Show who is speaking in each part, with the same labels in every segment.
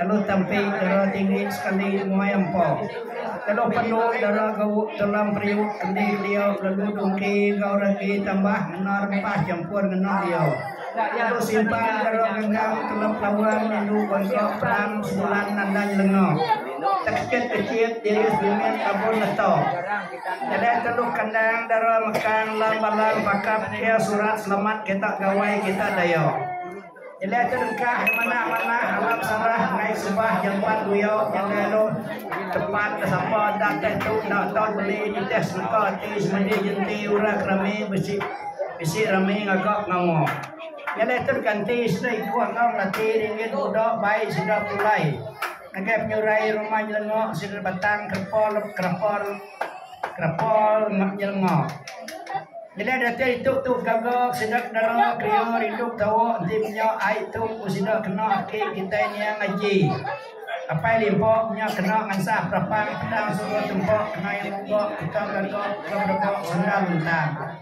Speaker 1: Telu tempi dara tinggi sekali muai empa. Telu pendu dara gau telam periuk endi kelia lalu dungki enggau ragi tambah ngena rempah chempur ngena dia. Telu simpang dara ganggang telep lawan indu bangka perang sebulan nandai lenga. Tekechit kechit diri sebimbit abun leta. Nyadai telu kandang dara mekang lam balang pakap kia surat selamat kita gawai kita daya. Nyeliah ke dengkah manah-manah alam Sarah enggai sebah jampat buyo nyaga anu tempat ke sapa enda teh tu enda taun meli nitih seleka ati semadi jenti ura ke rami besi bisi rami ngaga pengawa. Nyeliah tu deka enti sida ikuh enggau melati ringgit muda bai sida pulai ngagai penyurai rumah nyelenga sida batang kerepa lep kerapa. Kapal enda nyelenga. Bila data itu tu gaga sida dara kria rindu betawa enti menya ai tu ku sida kena aki kitai niang aji. Apai limpa menya kena ngansah perapang pedang suba tempa kenai mungga kuta gaga ke berega sendar lentang.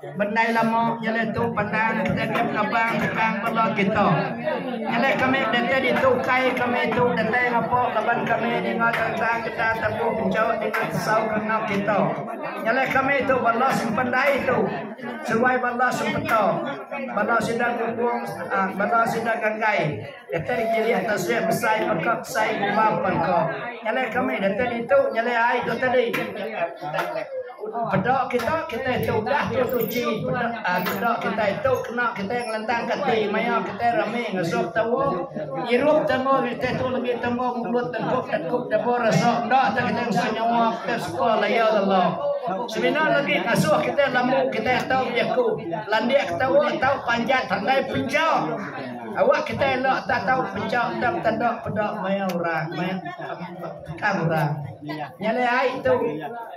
Speaker 1: Bendai lama nyelai tu pandang stadium Rabang bukang bala kita. Nyelai kami datai ditu ukai kami tu datai ngapa laban kami ninga tentang getah tembu enchau dengan sau kena kita. Nyelai kami tu bala sempendai tu seruai bala sempeta, bala sida gunggung, ah, bala sida ganggai datai dikilik tasik besai peka besai gumba pangka. Nyelai kami datai ditu nyelai ai tu tadi. Peda kita, kitai ti udah tu suci. Peda kitai tu kena kitai ngelentang ke ati maya kitai rami ngesuh tawa. Ngirup tawa kitai tu legi tawa mulut tengkup tengkup deba rasa enda tau kitai ngesuh nyawa kitai suka laya lalau. Semina legi ngasuh kitai lambu kitai tau bejaku. Landik ke tawa tau panjat handai pencha. Awak kitai enda tak tau pencha enda betanda peda maya orang, maya tukang orang. Nya alai ai tu.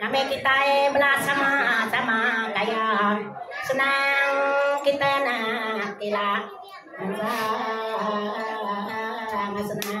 Speaker 2: Nami kitai
Speaker 3: bela sama sama gaya senang kita nak tila sama senang.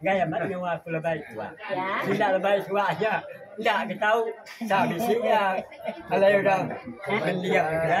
Speaker 4: enggai amat nyawa aku lebai tuak sida lebai tuak aja enda ke tau enda bisi iya alai
Speaker 3: orang
Speaker 4: mendiang
Speaker 3: ke
Speaker 4: dia.